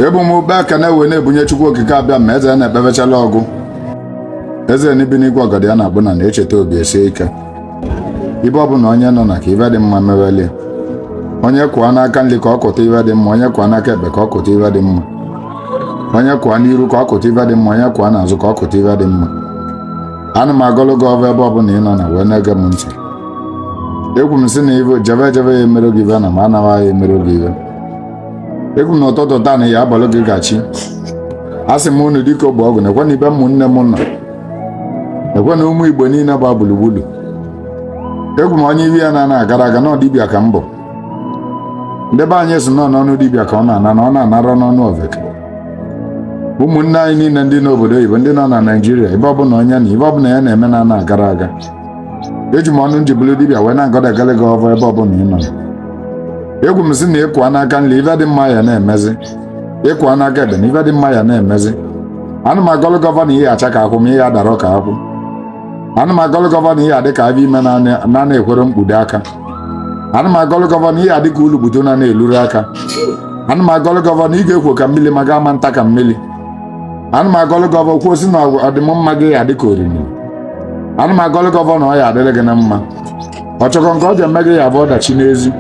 ebu m ube aka na-ewe na-ebunye chukwu okike abịama eze na-ekpebechala ọgụ eze na-ebi n'igwe ọgọdọ ya na-akpụ n'ana echeta obi esie ike ibe ọbụla onye nọ na ka ive dị mma meelie onye kwụọ n'aka nri ka ọ kụta ive dị mma onye kwụọ n'aka ekpe ka ọ kụta ive dị mma onye kwụọ n'iru ka ọ kụta ive dị mma onye kwụọ n'azụ ka ọ kụta ive dị mma ana m agọlụ gị ọvọ ebe ọbụla ị nọ na wee na-ege m ntị ekwu m sị na ibe jebe jebe ya emere gị ibe na m anaghị ya emere gị ibe ekwu na ụtụtụ taa na ya abọlụ gị gachi a sị m unu dịka ogbe ọgụ na-ekwe na ibe ụmụnne m nọ ekwe na ụmụ igbo niile gba gburugburu ekwu m onye ive ya na-ana agara aga na dibịa ka m bụ ndị be anyị sị na n'ọnụ dibịa ka ọ na-ana na ọ na-anarọ n'ọnụ oveke ụmụnne anyị niile ndị nọ obodo oyibo ndị nọ na naijiria ebe ọbụla onye na ive ọbụla ya na-eme na ana agara aga eji m ọnụ nji bụrụ dibịa wee na-agọda agọlị gị ọvọ ebe ọbụla ị nọ ekwu m sị na ị kwụọ n'aka nri ife dị mma ya na-emezi ị kwụọ n'aka ekpe na ife dị mma ya na-emezi ana m agọlụ gị ọvọ na ị ya acha ka akwụ ma ị ya adarọ ka akwụ ana m agọlụ gị ọvọ na ị ya adị ka avọ ime na ana ekwerọ mkpudo aka ana m agọlụ gị ọvọ na ị ya adị ka ulukpu na ana elurọ aka ana m agọlụ gị ọvọ na ị ga-ekwo ka mmili ma ga ama nta ka mmili ana m agọlụ gị ọvọ kwuo sị na ọdịm mma gị ya adị ka oriri ana m agọlụ gị ọvọ na ọ ya adịrị gị na mma ọ chọkọ nke ọ ji eme gị ya bụ ọdachi n'ezi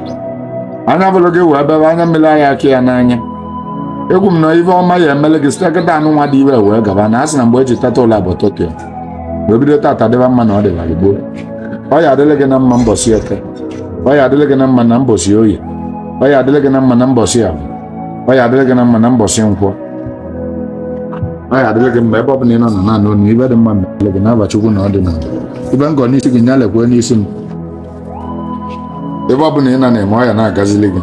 anya bụrụ gị wee bebe anya mmiri anya aka ya n'anya ekwu m na ife ọma ya emele gị site kịtaa nụnwa dị ive wee gaba na a sị na mgbe e ji teta ụla bụ ụtụtụ ya wee bido taata dịba mma na ọ dịbara gboo ọ ya adịrị gị na mma mbọsị eke ọ ya adịrị gị na mma na mbọsị oye ọ ya adịrị gị na mma na mbọsị avọ ọ ya adịrị gị na mma na mbọsị nkwọ ọ ya adịrị gị mma ebe ọ bụla ị nọ na naanị onu ive dị mma mere gị n'ava chukwu na ọ dị na ive m gọ n'isi gị nya lekwee n'isi m ive ọ bụla ị na-eme ọ ya na-agazili gị